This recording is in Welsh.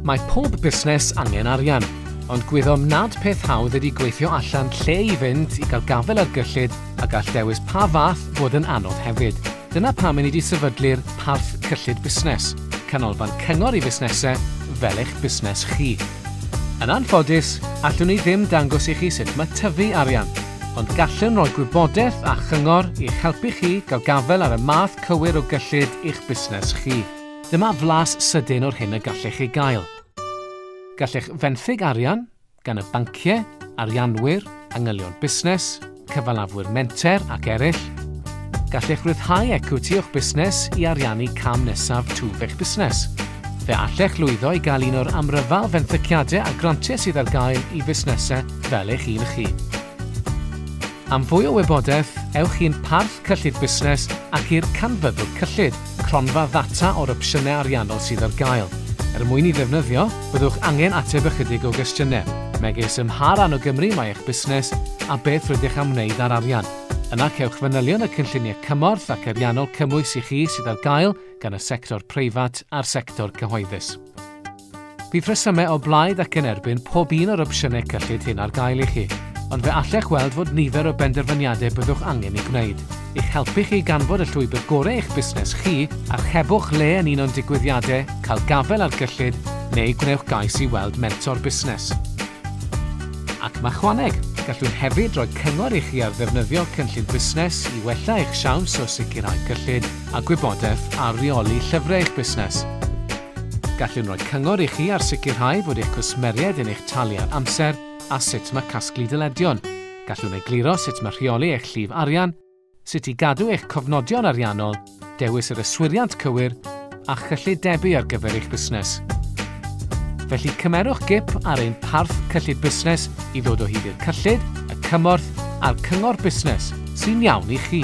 Mae pob busnes angen arian, ond gwyddom nad peth hawdd ydy gweithio allan lle i fynd i gael gafel ar gyllid a gall dewis pa fath fod yn anodd hefyd. Dyna pam i ni wedi sefydlu'r Parth Cyllid Busnes, canolfan cyngor i fusnesau fel eich busnes chi. Yn anffodus, allwn ni ddim dangos i chi sut mae tyfu arian, ond gallwn roi gwybodaeth a chyngor i'ch helpu chi gael gafael ar y math cywir o gyllid i'ch busnes chi. Dyma flas sydyn o'r hyn y gallech ei gael. Gallech fenthyg arian, gan y banciau, arianwyr, angylion busnes, cyfalafwyr menter ac eraill. Gallech ryddhau ecwiti o'ch busnes i ariannu cam nesaf twf eich busnes. Fe allech lwyddo i gael un o'r amryfal fenthyciadau a grantiau sydd ar gael i fusnesau fel eich un chi. Am fwy o wybodaeth, ewch i'n Parth Cyllid Busnes ac i'r Canfyddwr Cyllid, cronfa ddata o'r opsiynau ariannol sydd ar gael. Er mwyn i ddefnyddio, byddwch angen ateb ychydig o gwestiynau, megis ym mha ran o Gymru mae eich busnes a beth rydych am wneud â'r arian. Yna cewch fanylion y cynlluniau cymorth ac ariannol cymwys i chi sydd ar gael gan y sector preifat a'r sector cyhoeddus. Bydd rhesymau o blaid ac yn erbyn pob un o'r opsiynau cyllid hyn ar gael i chi, ond fe allech weld fod nifer o benderfyniadau byddwch angen ei gwneud, i'ch helpu chi i ganfod y llwybr gorau eich busnes chi, archebwch le yn un o'n digwyddiadau, cael gafael ar gyllid, neu gwnewch gais i weld mentor busnes. Ac machwaneg! Gallwn hefyd roi cyngor i chi ar ddefnyddio cynllun busnes i wella eich siawns o sicrhau cyllid, a gwybodaeth ar reoli llyfrau eich busnes. Gallwn roi cyngor i chi ar sicrhau fod eich cwsmeriaid yn eich talu ar amser a sut mae casglu dyledion. Gallwn egluro sut mae rheoli eich llif arian, sut i gadw eich cofnodion ariannol, dewis yr yswiriant cywir a chyllid debu ar gyfer eich busnes. Felly cymerwch gip ar ein parth cyllid busnes i ddod o hyd i'r cyllid, y cymorth a'r cyngor busnes sy'n iawn i chi.